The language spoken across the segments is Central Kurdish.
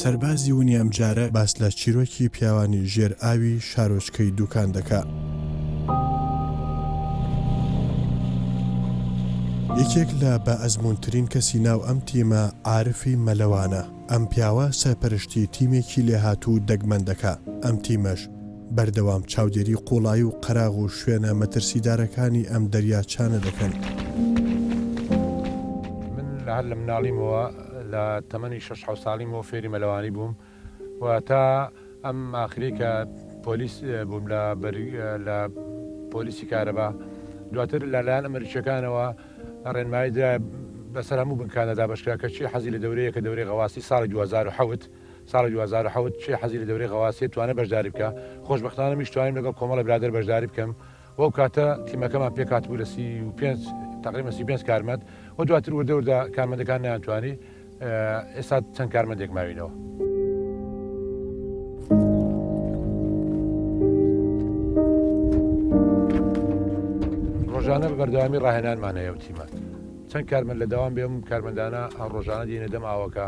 سەربازی ونی ئەمجارە باس لە چیرۆکی پیاوانی ژێر ئاوی شارۆچکەی دوکان دەکا. یەکێک لە بە ئەزمونترین کەسی ناو ئەم تیمە عاعرفی مەلەوانە. ئەم پیاوە سەرپەرشتی تیمێکی لێهاتوو و دەگمەن دەکا، ئەم تیمەش بەردەوام چاودێری قوڵایی و قەراغ و شوێنە مەترسیدارەکانی ئەم دەریاچانە دەکەن. من هەر لە مناڵیمەوە، لە تەمەنی شەش حەوت ساڵیمەوە فێری مەلەوانی بووم و تا ئەم ئاخرەی کە پۆلیس بووم لە پۆلیسی کارەبا، دواتر لەلایەن ئەمەریکییەکانەوە، ڕێنمایی درا بەسەر هەموو بنکانە دابەشکرا کە چێ حەزی لە دەورەیە کە دەورەی غەواسی ساڵی دوو هەزار و حەوت ساڵی دوو هەزار و حەوت چێ حەزی لە دەورەی غەواسیە توانێ بەشداری بکا خۆشبەختانە منیش توانیم لەگەڵ کۆمەڵێ برادەر بەشداری بکەم و ئەو کاتە تیمەکەمان پێک هاتبوو لە سی و پێنج تەقریبەن سی و پێنج کارمەند و دواتر وردە وردە کارمەندەکان نەیانتوانی ئێستا چەند کارمەندێک ماوینەوە. ڕۆژانە بە بەردەوامی ڕاهێنانمان هەیە و تیمە چەند کارمەند لە داوام بێم کارمەندانە ڕۆژانە دێنە دەم ئاوەکە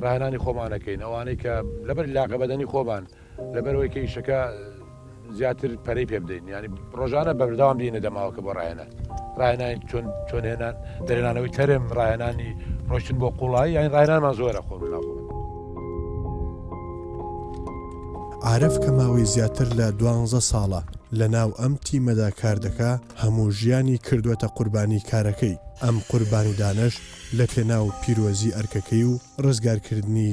ڕاهێنانی خۆمانەکەین ئەوانەی کە لەبەر لاقە بەدەنی خۆمان لەبەرەوەی کە ئیشەکە زیاتر پەرەی پێ بدەین ینی ڕۆژانە بەرداوام بینە دەماوەکە بۆ ڕاهێنان ڕاهێنانی چۆن چۆن هێنان دەرێنانەوەی تەرم ڕاهێنانی ڕۆشتن بۆ قوڵایی یان ڕاهێنانمان زۆرە خۆ ناخۆ عرف کە ماوەی زیاتر لە دوانزە ساڵە لە ناو ئەم تیمەدا کار دەکا هەموو ژیانی کردوەتە قوربانی کارەکەی ئەم قوربانیدانەش لە پێناو پیرۆزی ئەرکەکەی و ڕزگارکردنی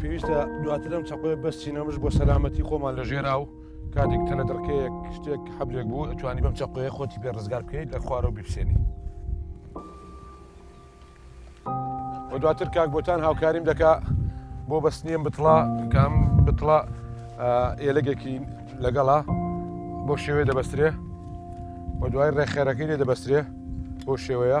پێویستە دواتر ئەم چەقۆی بەستینەمش بۆ سەلامەتی خۆمان لە ژێرا و کاتێک تەنە دڕکەیەک شتێک حەبلێک بوو ئەتوانی بەم چەقۆیە خۆتی پێ ڕزگار بکەیت لە خوارەوە بیپسێنی و دواتر کاک بۆتان هاوکاریم دەکا بۆ بەستنیم بتڵا کام بتڵا ئێلەگێکی لەگەڵا بۆ شێوێ دەبەسترێ و دوای ڕێخێرەکەی لێ دەبەسترێ بۆ شێوەیە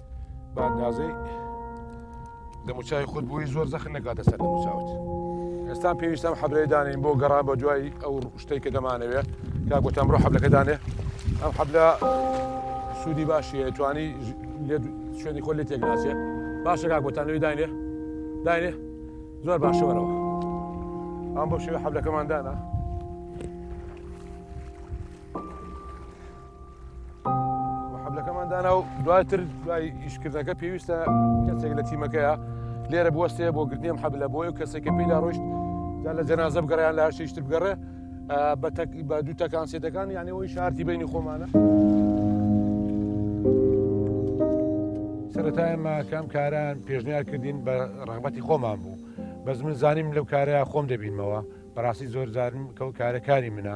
بە ئەندازەی دەموچای خود بووی زۆر زەخن نکاتە سەر دەموچاوت ئێستان پێویستم حەبرەی دانین بۆ گەڕان بە دوای ئەو شتەی کە دەمانەوێ کا گوتم ڕۆ حەبلەکە دانێ ئەم حەبلە سوودی باشیە توانی شوێنی خۆ لێ تێکناچێت باشە کا گوتانەوەی داینێ داینێ زۆر باشەوەەوە ئەم بۆ شێوە حەبلەکەمان دانا حەبلەکەمان دانا و دواتر دوای ئیشکردنەکە پێویستە کەسێک لە تیمەکەیە لێرە بوەستێ بۆ گرنیم حەبلە بۆی و کەسێکە پێیدا ڕۆشت جا لە جەنازە بگەڕیان لە هەشتیشتر بگەڕێ بە بە دوو تەکان سێتەکان یانەوەی شارتی بینی خۆمانە. سەتای ماکەم کاران پێشنیار کردین بە ڕغبەتی خۆمان بوو بەس من زانیم لەو کارەیە خۆم دەبینمەوە بەڕاستی زۆر زارم کەەوە کارەکانی منە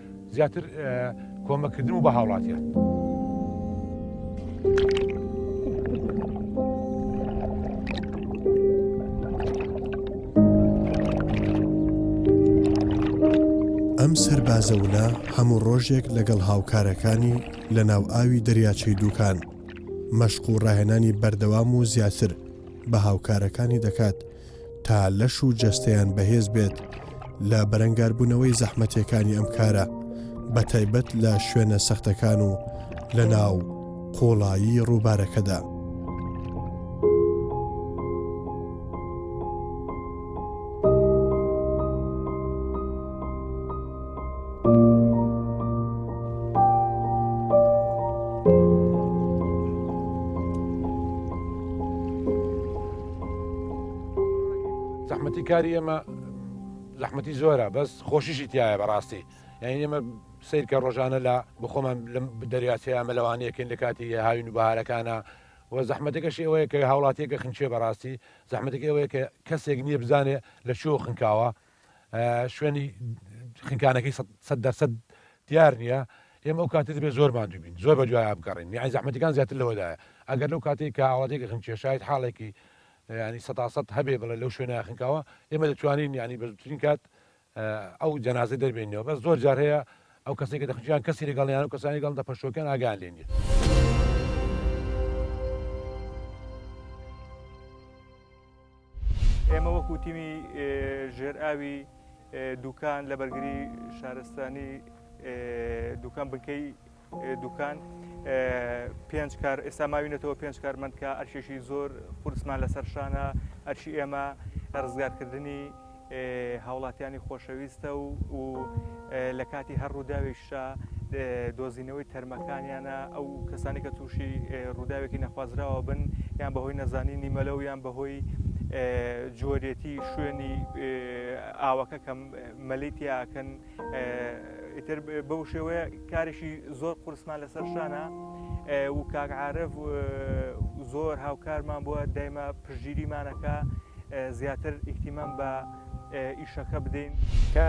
زیاتر کۆمەکردن و بە هاوڵاتیان. ئەم سەربازەونە هەموو ڕۆژێک لەگەڵ هاوکارەکانی لە ناو ئاوی دەریاچەی دووکان مەشق و ڕاهێنانی بەردەوام و زیاتر بە هاوکارەکانی دەکات تا لەش و جەستەیان بەهێز بێت لە بەرەنگاربوونەوەی زەحمەتیەکانی ئەم کارە بە تایبەت لە شوێنە سەختەکان و لە ناو قۆڵایی ڕووبارەکەدا. زەحمەتی کاری ئێمە زەحمەتی زۆرە بەس خۆشیشی تایە بەڕاستی یعنی ئێمە سیرکە ڕۆژانە لە بخۆمان لەم دەریاچەیە ئەمە لەوانەیەکەین لە کاتی هاوین و بەهارەکانە و زەحمەتەکەشی ئەوەیە کە هاوڵاتیەکە خنچێ بەڕاستی زەحمەتەکە ئەوەیە کە کەسێک نییە بزانێ لە چۆ خنکاوە شوێنی خنکانەکەی سەد دەرسەد دیار نییە ئێمە ئەو کاتی دەبێت زۆر مادوو بین زۆر بە دوای بگەڕین یان زەحمەتەکان زیاتر لەوەدایە ئەگەر لەو کاتی کە ئاواتێکی خنکێ شاید حاڵێکی ینی سەداسەد هەبێ بڵێ لەو شوێنە خنکاوە ئێمە دەتوانین ینی بەزوترین کات ئەو جەنازە دەربێنەوە بە زۆر جار هەیە ئەو کەسێک کە دەخنکیان کەسی لەگەڵیان و کەسانی گەڵ دە پەشۆکەن ئاگان لێ نیە. ئێمە وەکو تیمی ژێرئاوی دوکان لە بەرگری شارستانی دوکان بنکەی دوکان پێنج کار ئێستا ماوینەتەوە پێنج کارمەندکە ئەرشێکی زۆر قورسمان لەسەر شانە ئەرشی ئێمە ڕزگارکردنی هاوڵاتیانی خۆشەویستە و و لە کاتی هەر ڕووداوێکشا دۆزینەوەی تەرمەکانیانە ئەو کەسانی کە تووشی ڕووداوێکی نەخوازراوە بن یان بەهۆی نەزانینی مەلە و یان بەهۆی جۆرێتی شوێنی ئاوەکە کەم مەلیتیاکەن ئیتر بەو شێوەیە کارێکی زۆر قورسمان لەسەر شانە و کاگعاعرف زۆر هاوکارمان بووە دایمە پژگیریمانەکە زیاتر ئیکتیمان بە ئیشەکە بدەین کە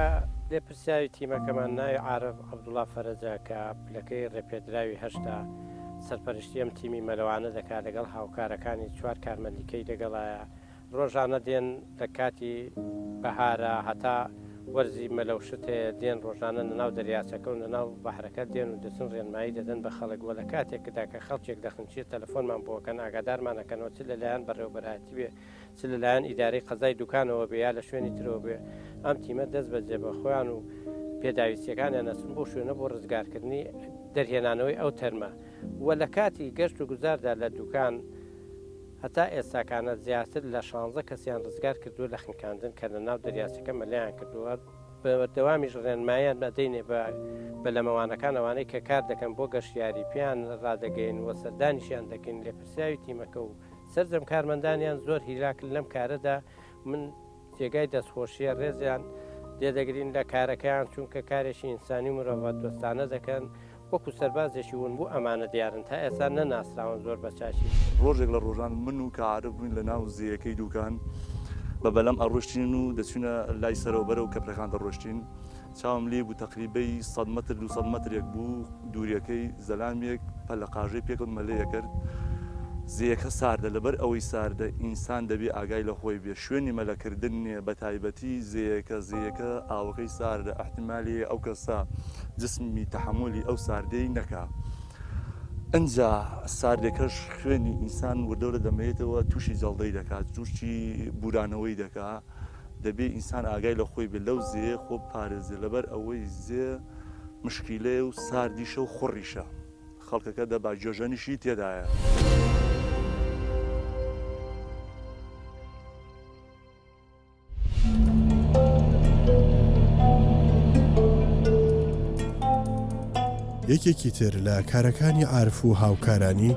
لێ پرسیاوی تیمەکەمان ناوی عاعرف عبدوڵا فەرەجە کە پلەکەی ڕێپێدراوی هەشتا سەرپەرشتی ئەم تیمی مەلەوانە دەکات لەگەڵ هاوکارەکانی چوار کارمەندیکەی دەگەڵایە ڕۆژانە دێن لە کاتی بەهارا هەتا وەرزی مەلەوشت هەیە دێن ڕۆژانە لە ناو دەریاچەکە و لە ناو بەحرەکە دێن و دەچن ڕێنمایی دەدەن بە خەڵک وە لە کاتێکدا کە خەڵکێک دەخنچێت تەلەفۆنمان بۆکەن ئاگادارمانەکەنەوە چ لەلایەن بەڕێوبەرایەتی بێ چ لەلایەن ئیدارەی قەزای دوکانەوە بێ یا لە شوێنی ترەوە بێ ئەم تیمە دەست بە جێبە خۆیان و پێداویستیەکانیان نەچن بۆ شوێنە بۆ ڕزگارکردنی دەرهێنانەوەی ئەو تەرمە وە لە کاتی گەشت و گوزاردا لە دوکان هەتا ئێستاکانە زیاتر لە شانزە کەسیان رزگار کردووە لە خنکاندن کە لە ناو دەریاچەکە مەلەیان کردووە، بەوەدەوامیش رێنماییان ئەدەینێ بە بەلەمەوانەکان ئەوانەی کە کار دەکەن بۆ گەشتیاری پێیان رادەگەین و سەردانیشیان دەکەین، لێپرسراوی تیمەکە و سەرجەم کارمەندانیان زۆر هیلاکن لەم کارەدا، من. جێگای دەستخۆشیە ڕێزیان لێدەگرین لە کارەکەیان چونکە کارێکی ئینسانی و مرۆڤە دۆستانە دەکەن وەکو سەربازێکی ون بوو ئەمانە دیارن تا ئێستا نەناسراون زۆر بەچاکیش. ڕۆژێک لە ڕۆژان من و کا عارف بووین لە ناو زێیەکەی دووکان بە بەلەم ئەڕۆشتین و دەچوینە لای سەرەوە بەرەو کەپرەکان دەڕۆشتین، چاوم لێی بوو تەقریبەی سەد مەتر دوو سەد مەترێک بوو دووریەکەی زەلامێک پەلە قاژەی پێکەوت مەلەیەکرد زێیەکە ساردە لەبەر ئەوەی ساردە ئینسان دەبێ ئاگای لە خۆی بێ شوێنی مەلە کردن نیە بەتایبەتی زێیەکە زێیەکە ئاوەکەی ساردە ئەحتیمالی هەیە ئەو کەسە جسمی تەحەمولی ئەو ساردەی نەکا ئنجا ساردێکەش خوێنی ئینسان وردەورە دەمەیتەوە تووشی جەڵدەی دەکات جوشی بورانەوەی دەکا. دەبێ ئینسان ئاگای لە خۆی بێ لەو زێیە خۆ بپارێزێ لەبەر ئەوەی زێ مشکیلەیە و ساردیشە و خوڕیشە خەڵکەکە دەبا جۆژەنیشی تێدایە. یەکێکی تر لە کارەکانی عارف و هاوکارانی،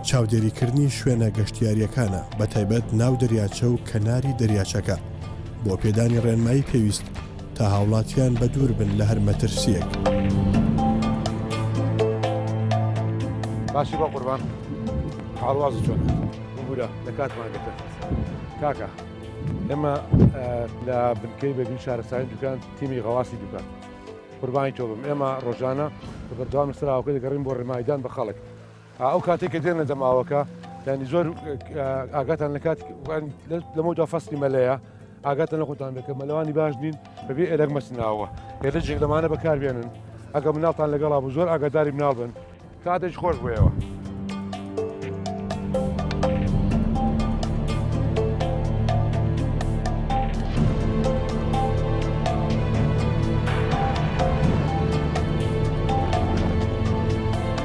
چاودێریکردنی شوێنە گەشتیاریەکانە بە تایبەت ناو دەریاچە و کەناری دەریاچەکە بۆ پێدانی ڕێنمایی پێویست تا هاوڵاتیان بە دوور بن لە هەر مەترسیەک. باشی بە قوربان حاڵواز چۆن بورە لە کاتمان گەتە کاکە ئێمە لە بنکەی بەبی شارستانی دوکان تیمی غەواسی دوکان قوربانی تۆ بم ئێمە ڕۆژانە بە بەردەوام سراوەکە دەگەڕین بۆ ڕێمایدان بە خەڵک ئەو کاتێک کە دێنە دەم ئاوەکە ینی زۆر ئاگاتان لە کات لەمەدا فەستی مەلەیە ئاگاتە لە خۆتان دەکە مەلەوانی باش نین بەبێ ئێلەر مەسناوە هێدە جێک لەمانە بەکاربێنن ئەگە مناڵتان لەگەڵا بوو زۆر ئاگاداری مناڵ بن کاتێک خۆش بۆیەوە.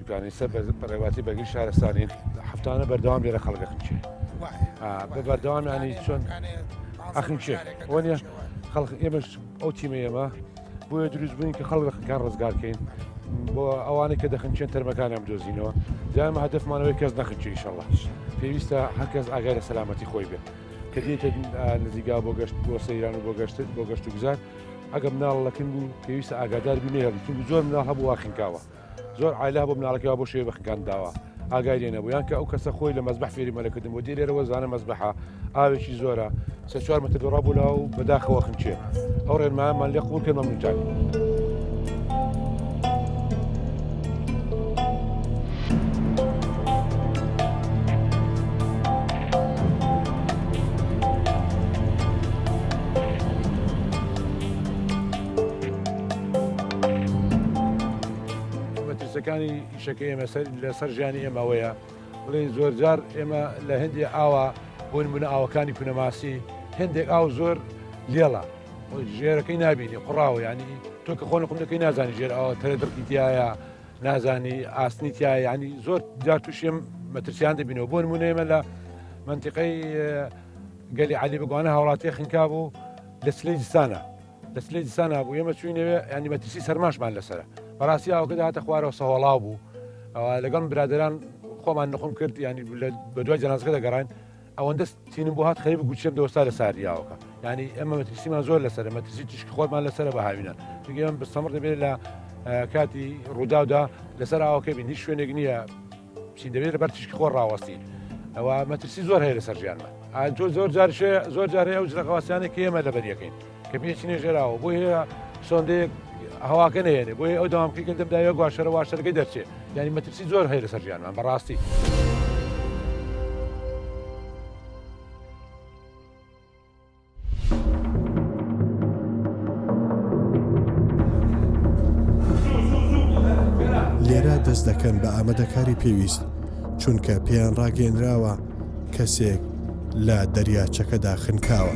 جوانی سەر بە بەڕێواتی بەگی شارستانی هەفتانە بەردەوام لێرە خەڵک ئەخنچێ بە بەردەوامیانی چۆن ئەخنچێ وەنیە خەڵک ئێمەش ئەو تیمە ئێمە بۆیە دروست بووین کە خەڵک خەکان ڕزگارکەین بۆ ئەوانەی کە دەخنچێن تەرمەکانیان بدۆزینەوە جام هەدفمانەوەی کەس نەخنچی شەڵە پێویستە هەرکەس ئاگای لە سەلامەتی خۆی بێت کە دێتە نزیگا بۆ گەشت بۆ سەیران و بۆ گەشتت بۆ گەشت و گوزار ئەگەم ناڵەکن بوو پێویستە ئاگادار بینێ هەڵی زۆر مناڵ هەبوو واخنکاوە زۆر عایلە هەبوو مناڵەکەی وا بۆ شێوەی بەخەکان داوە ئاگای لێ نەبوو یان کە ئەو کەسە خۆی لە مەزبەح فێری مەلەکردن بۆ دێ لێرەوە زانە مەزبەحە ئاوێکی زۆرە سێ چوار مەتر دۆڕا بوو لاو بەداخەوە خنچێ ئەو ڕێنمایەمان لێ قوڵ کرد مەمنونتان مەترسیەکانی ئیشەکە ئێمە لەسەر ژیانی ئێمە ئەوەیە بڵێن زۆر جار ئێمە لە هەندێک ئاوا بۆن بوون ئاوەکانی کونەماسی هەندێک ئاو زۆر لێڵە ژێرەکەی نبینی قڕاوە ینی تۆ کە خۆن قوندەکەی نازانی ژێر ئەوە تەرە دڕکی تایە نازانی ئاسنی تیا ینی زۆر جار تووشێم مەترسیان دەبینەوە بۆن مونێمە لە منتیقەی گەلی علی بگوانە هاوڵاتی خنکا بوو لە سلی جستانە دەست لێ دیسان نابوو ئێمە چوینەوێ ینی مەترسی سەرماشمان لەسرە بەڕاستی ئاوکە داهاتە خوارەوە سەهۆڵاو بوو لەگەڵ برادران خۆمان نخۆم کرد ینی بە دوای جەنازەکە دەگەڕین ئەوەندە تینم بۆ هات خەیب گوچێم دۆستا لە ساریاوەکە ینی ئەمە مەترسیمان زۆر لەسەر مەترسی تیشک خۆمان لەسەر بە هاوینە چگەم بستەمڕ دەبێت لە کاتی ڕووداودا لەسەر ئاوکە بین هیچ شوێنێک نییە چین دەبێت لەبەر تیشکی خۆر ڕاوەستین ئەوە مەترسی زۆر هەیە لەسەر ژیانمان ئەتۆ زۆر جار زۆر جارێ ئەو جلەقاواسیانێک ئێمە لەبەریەکەین کە پێچینێ ژێراوە بۆ هەیە سۆندێک هەواکە نێنێ بۆی ئەو داوامکەی کە دەمداوە گواشەرە واشەرەکەی دەرچێت یانی مەترسی زۆر هەیە لەسەر ژیانمان بەڕاستی. لێرە دەست دەکەن بە ئامادەکاری پێویست چونکە پێیان ڕاگەێنراوە کەسێک لە دەریاچەکەدا خنکاوە.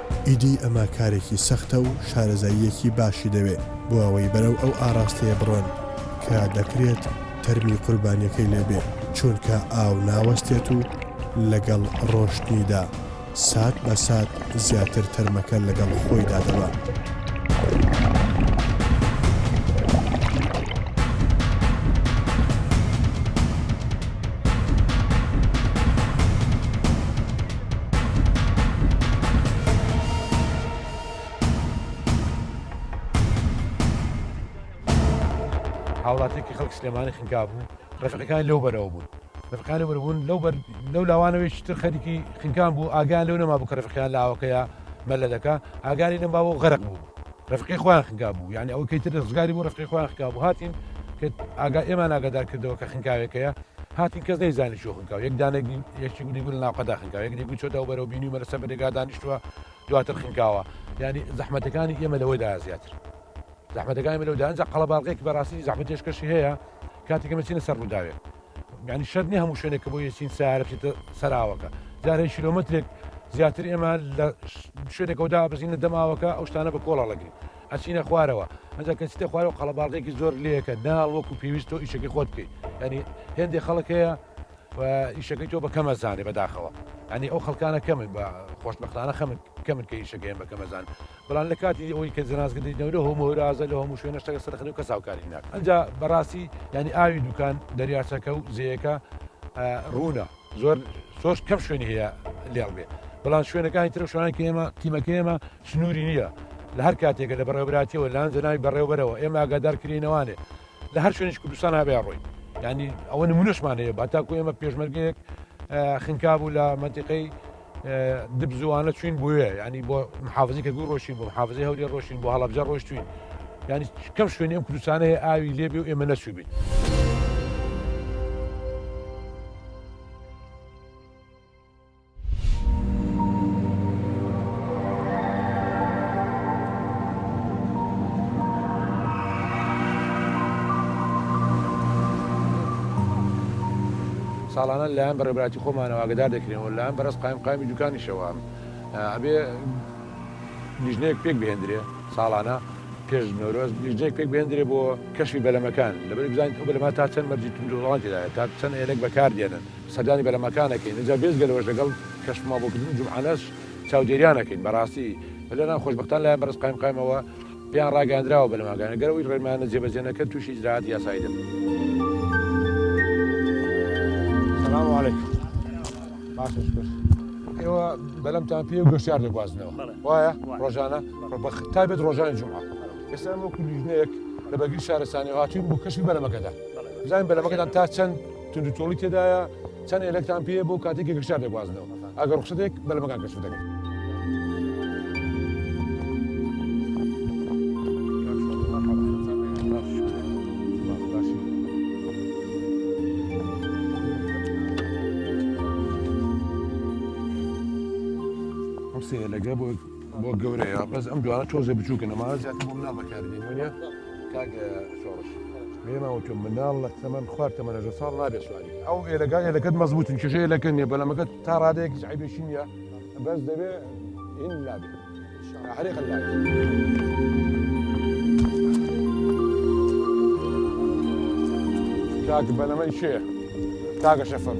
ئیدی ئەمە کارێکی سەختە و شارەزاییەکی باشی دەوێ بۆ ئەوەی بەرەو ئەو ئاڕاستەیە بڕۆن کە دەکرێت تەرمی قوربانیەکەی لێ بێ چوونکە ئاو ناوەستێت و لەگەڵ ڕۆشتنیدا سات بە سات زیاتر تەرمەکە لەگەڵ خۆیدا دەبا. هاوڵاتیکی خەڵک سلێمانی خنکابوو ڕێفەکان لەو بەرەوە بوون ڕفقانی بەربوون لەو لەو لاوانەوەش تر خەریکی خنکان بوو ئاگان لەو نەما بوو کە ڕفقیان لاوەکەیە مەلەدەکە ئاگاری نەما بۆ غەرق بوو رەفقی خۆیان خنکابوو یعنی ئەوەی کەی تر ڕزگاری بوو رەفقی خۆیان خکابوو هاتین ئاگا ئێمان ئاگادار کردەوە کە خنکاوێکەیە هاتین کەس نەی زانی شو خنکاو یەک دانێک یەکی گولی گول ناوقەدا خنکاو یەک دیگوی چۆتەوە بەرەو بینی مەرەسە بەێگا دانیشتووە دواتر خنکاوە ینی زەحمەتەکانی ئێمە لەوەدا زیاتر زەحمەتەکانی لەودانجا قەڵەباڵغێکی بەڕاستی زەحمەتێشکەشی هەیە کاتێکمە چینە سەر ڕووداوێت یانی شەرت نیە هەموو شوێنێک کە بۆ یەچین سیارە بچێتە سەراوەکە جار هەیە کیلۆمەترێک زیاتر ئێمە لە شوێنێکەوە دابەزینە دەماوەکە ئەو شتانە بە کۆڵە ڵەگرین ئەچینە خوارەوە ئەجا کە چیتە خوارەوە قەڵەباڵغێکی زۆر لەیەکە ناڵ وەکو پێویست تۆ ئیشەکەی خۆت بکەیت ینی هێندێک خەڵک هەیە و ئیشەکەی تۆ بە کەمە زانێ بەداخەوە ئەنی ئەو خەڵکانە کەمن بە خۆشببختانە خەمن کەمن کە ئیشەکەیان بە کەمەزان بەڵام لە کاتی ئەوەی کە جەنازگەلەی نەورە هۆم و هەورازە لەو هەموو شوێنە شتەکە سەرخەری و کەس هاوکاری ناکات ئەنجا بەڕاستی یانی ئاوی دوکان دەریاچەکە و زێیەکە ڕوونە زۆر سۆش کەم شوێنی هەیە لێڵ بێ بەڵام شوێنەکانی ترە شوانە کە ئێمە تیمەکە ئێمە سنووری نییە لە هەر کاتێکە لە بەڕێوبراتیەوە لان جەناوی بەڕێوبەرەوە ئێمە ئاگادار کرێنەوانێ لە هەر شوێنش کوردستان هابێ ڕۆی ینی ئەوە نمونەشمان هەیە با تاکو ئێمە پێشمەرگەیەک خنکا بوو لە منتیقەی دبزوانە چوین بووە ینی بۆ محافزی کە گوو ڕۆشین بۆ محافزی هەوری ڕۆشین بۆ هەڵبجە ڕۆشتوین ینی کەم شوێنی ئەم کوردستانە هەیە ئاوی لێبێ و ئێمە نەچوبین. ساڵانە لەلایەن بە ڕێبراتی خۆمانەوە ئاگدار دەکرێنەوە لەلایەن بەرز قایم قامی دوکانیشەوە ئەبێ لیژنەیەک پێک بهێندرێ ساڵانە پێش نۆرۆز لیژنەیەک پێک بهێندرێ بۆ کەشی بەلەمەکان لەبەر بزانیت ئەو بەلەما تا چەند مەرجی تونجوڵان تێدایە تا چەند هێلک بەکار دێنن سەردانی بەرەمەکان ئەکەین ئینجا بێجگە لەوەش لەگەڵ کەشف مابوکردن جومعانەش چاودێریان ئەکەین بەڕاستی پلەران خۆشبەختان لایان بەرز قایمقایمەوە پێیان ڕاگەیاندراوە بەلەماگانە گەر ئەوەی ڕێنمایانە جێبەجێ نەکرد توشی ئیجرائاتی یاسایی دەبن. سلام علیکم باشە شکر ئێوە بەلەمتان پێ و گەشتار دەگوازنەوە وایە ڕۆژانە ڕبخ تا بێت ڕۆژانی جمعە ئێستا وەکو لیژنەیەک لە بەگری شارستانی هاتوین بۆ کەشی بەرەمەکەدا بزانین بەرەمەکەدان تا چەند توندوتۆڵی تێدایە، چەند ئێلکتان پێیە بۆ کاتێک کە گەشتیار دەگوازنەوە، ئەگەر ڕوخسەتێک بەلەمەکان کەشف دەکەن. بۆ گەورەیە بەس ئەم جوانە تۆزێ بچووکن ئەمانە زیاتر بۆ مناڵ بەکاردێن وێ کاک شۆڕش پێماوە تۆ مناڵ لە تەمەن خوارد تەمەەژە ساڵ نابێ سواری ئەو ئێلەکان ئێلەکەت مەزبوتن کێشەیە لەکە نیە بەلامەکە تا ڕادەیەک عیبێکی نیە بەس دەبێ هین لابێ هەرێ قەلا کاک بەلەمەی شێ کاگە شەفەم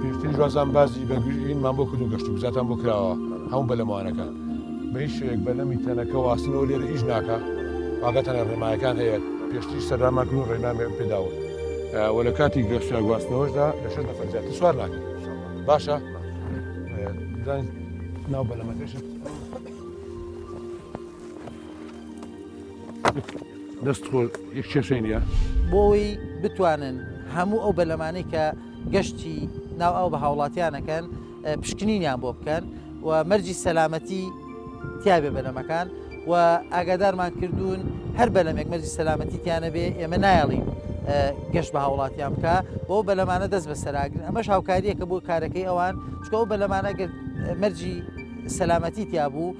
پێشتریش وازان بازی بەگوژینمان بۆ کردو گەشت و بزاتان بۆ کراوە هەموو بەلەمانەکان بە هیچ شێک بەلەمی تەنەکە واستنەوە لێر ئیش ناکە واگەتانە ڕێمایەکان هەیە پێشتری سەراماکن و ڕێنامێ پێداوە وە لە کاتی گەشتە گواستنەوەشدا لە شەش نەفەر زیاتر سوار ناکەن باشە ناو بەلەمەکەشت دەست خۆ یەک کێشەی نیە بۆی بتوانن هەموو ئەو بەلەمانەی کە گەشتی ناو ئەو بە هاوڵاتیانەکەن پشکنینیان بۆ بکەن و مەرجی سەلامەتی تیاێ بەلەمەکان و ئاگادارمان کردوون هەر بەلەمێک مەرجی سەلامەتی تیانە بێ ئێمە نایڵین گەشت بە هاوڵاتیان بکە بۆ بەلەمانە دەست بە سەراگرن ئەمەش هاوکاریەکە بۆ کارەکەی ئەوان چکەەوە بەلەمانە مەرجی سەلامەتی تیا بوو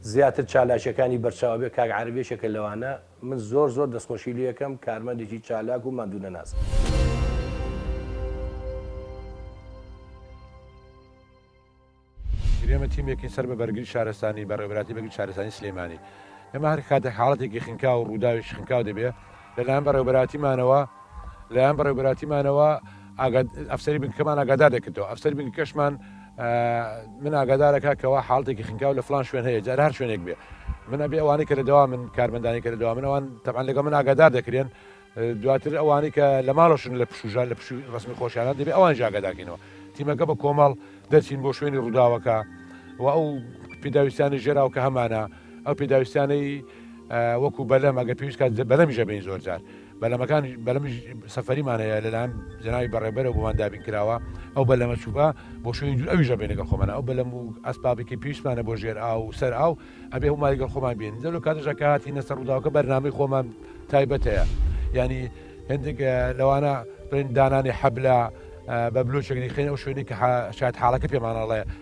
زیاتر چالاکیەکانی بەرچاوەبێ کاک عارف یەکێکە لەوانە من زۆر زۆر دەستخۆشی لێکەم کارمەندێکی چالاک و ماندوونەناس. ئێمە تیمێکین سەر بە بەرگری شارستانی بە ڕێبراتی بەگری شارستانی سلێمانی ئێمە هەر کاتێک حاڵەتێکی خنکا و ڕووداوێکی خنکاو دەبێ لەلایەن بەڕێوبەرایەتیمانەوە لەلایەن بەڕێوبەرایەتیمانەوە ئاگاد ئەفسەری بنکەکەمان ئاگادار دەکردەوە ئەفسەری بنکەکەشمان من ئاگادارەکە کەوا حاڵتێکی خنکاو لە فلان شوێن هەیە جار هەر شوێنێک بێ من ئەبێ ئەوانەی کە لە دەوا من کارمەندانی کە لە دەوا من ئەوان تەبان لەگە من ئاگادار دەکرێن دواتر ئەوانەی کە لە ماڵشن لە پشوژان لە پشوی ڕسمی خۆشیانە دەبێ ئەوان ژاگەداکەینەوە تیمەکە بە کۆمەڵ دەچین بۆ شوێنی ڕووداوەکە و ئەو پیداویستانی ژێراو کە هەمانە ئەو پێداویستانەی وەکو بەلەم ئەگە پێویست کات بەلەمی ژەبین زۆر جار بەلەمەکان بەلەمی سەفەریمانەیە لەلاەن جناوی بەڕێبەرە بۆمان دابین کراوە ئەو بەلەمە چوبە بۆ شوێن دوور ئەوی ژەبێنە لەگەڵ خۆمانە ئەو بەلەم و ئەسپابێکی پێویستمانە بۆ ژێر ئاو و سەر ئاو ئەبێ هەموو لەگەڵ خۆمان بین دەلو کاتژەکاتی نەسە ڕووداوکە بەرنامی خۆمان تایبەتەیە ینی هندێک لەوانە بڵێن دانانی حەبلە بە بلوچەگەری خێن ئەو شوێنی کە شاید حاڵەکە پێمانەڵێ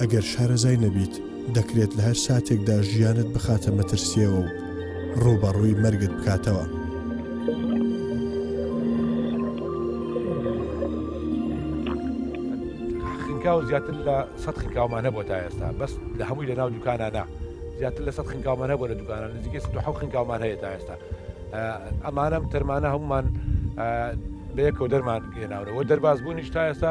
ئەگەر شارەزای نەبیت دەکرێت لە هەر ساتێکدا ژیانت بخاتە مەترسیەوە و ڕووبەڕووی مەرگت بکاتەوە. خنکاو زیاتر لە سە خنکاومان هەبوو تا ئێستا بەس لە هەمووی لە ناو دوکانانە زیاتر لە سە خنکاومان هەبوو لە دوکانە نزیکە سە حو خنکاومان هەیە تا ئێستا ئەمانەم تەرمانە هەمومان بەیەکەوە دەرمان گەێناونەوە دەرباز بوونیش تا ئێستا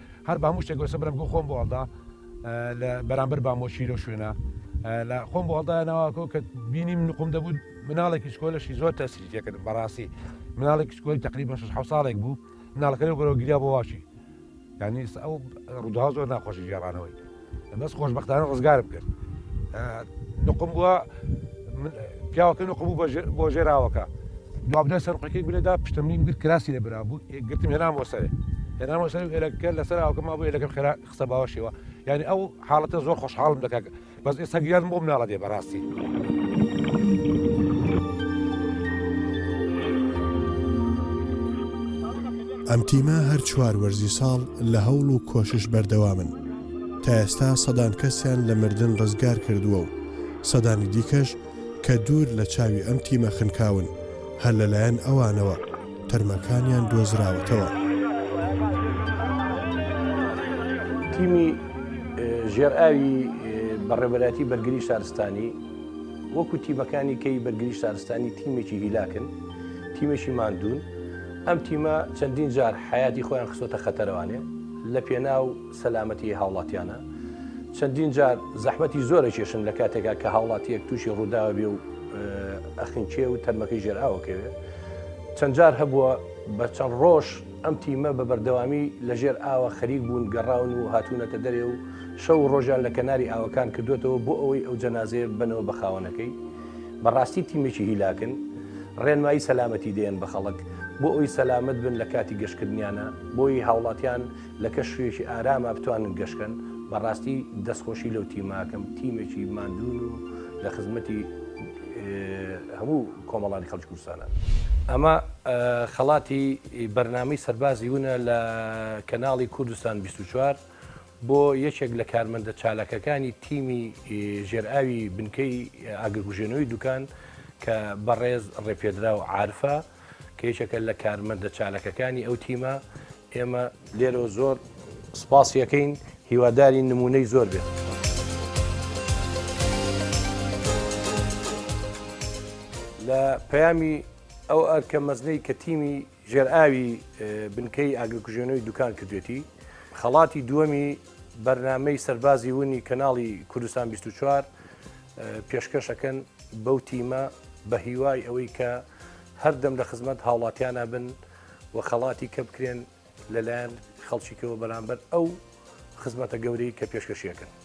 هەر با مشتێک گۆسە برم گو خۆم بۆ هەڵدا لە بەرامبەر بامۆچی لەو شوێنە لە خۆم بۆ هەڵدا ناواکۆ کە بینیم نقم دەبوو مناڵێکی سکۆلەشی زۆر تەسری تێکرد بەڕاستی مناڵێک سکۆی تقریبا 6 ساڵێک بوو مناڵەکەی گەرەوە گریا بۆ واشی یعنی ئەو ڕوودا زۆر ناخۆشی گێڕانەوەی بەس خۆشببختانە ڕزگارم کرد نقم بووە پیاوەکە نقم بوو بۆ ژێراوەکە دوابدە سەرقەکەی بلێدا پشتمنی گرت کراسی لە برا بوو گرتم هێنامەوە سەرێ هێنامەوە سەر ئێلەکە لەسەر ئاوکە ما بۆ لەگەم خێرا قسە باوەشەوە یعنی ئەو حاڵەتە زۆر خۆشحاڵم دەکات بەس ئێستا گیان بۆم ناڵە دێ بەڕاستی. ئەم تیمە هەر چوار وەرزی ساڵ لە هەوڵ و کۆشش بەردەوامن تا ئێستا سەدان کەسیان لە مردن ڕزگار کردووە و سەدانی دیکەش کە دوور لە چاوی ئەم تیمە خنکاون هەر لەلایەن ئەوانەوە تەرمەکانیان دۆزراوەتەوە. تیمی ژێرئاوی بەڕێوەبەرایەتی بەرگری شارستانی وەکو تیمەکانی کەی بەرگری شارستانی تیمێکی هیلاکن تیمێکی مادون ئەم تیمە چەندین جار حیاتی خۆیان خسۆتە خەتەرەوانێ لەپێناو سەلامەتیی هاوڵاتیانە، چەندین جار زەحمەتی زۆر ئەکێشن لە کاتێکا کە هاوڵاتییەک تووشی ڕووداوە بێ و ئەخنکێ و تەرمەکەی ژێر ئاو ئەکەوێ. چەند جار هەبووە بە چەند ڕۆژ ئەم تیمە بە بەردەوامی لە ژێر ئاوە خەریک بوون، گەڕاون و هاتوونەتە دەرێ و شەو و ڕۆژیان لە کەناری ئاوەکان کردووەتەوە بۆ ئەوەی ئەو جەنازەیە ببەنەوە بە خاوەنەکەی. بەڕاستی تیمێکی هیلاکن ڕێنمایی سەلامەتی دێن بە خەڵک بۆ ئەوی سەلامەت بن لە کاتی گەشتکردنیانە بۆی هاوڵاتیان لە کەش شوێکی ئاراما بتوانن گەشتکەن بەڕاستی دەستخۆشی لەو تیماکەم تیمێکی مادون و لە خزمەتی هەموو کۆمەڵانی خەڵکی کوردستانە ئەمە خەڵاتی بەرنامەی سەربازی ونە لە کەناڵی کوردستان 24 بۆ یەکێک لە کارمەندە چالاکەکانی تیمی ژێرئاوی بنکەی ئاگرکوژێنەوەی دوکان کە بەڕێز ڕێپێدرا و عرفە کە یەکێکە لە کارمەندە چالاکەکانی ئەو تیمە ئێمە لێرەوە زۆر سپاسیەکەین هیواداری نمونەی زۆر بێت. لە پەیامی ئەو ئەرکە مەزنەی کە تیمی ژێرئاوی بنکەی ئاگرکوژێنەوەی دوکان کردوێتی، خەڵاتی دووەمی بەرنامەی سەربازی ونی کەناڵی کوردستان 24 پێشکەشەکەن بەو تیمە بە هیوای ئەوەی کە هەردەم لە خزمەت هاوڵاتیانە بن و خەڵاتی کە بکرێن لەلایەن خەڵکیکەوە بەرامبەر ئەو خزمەتە گەورەی کە پێشکەشیەکەن.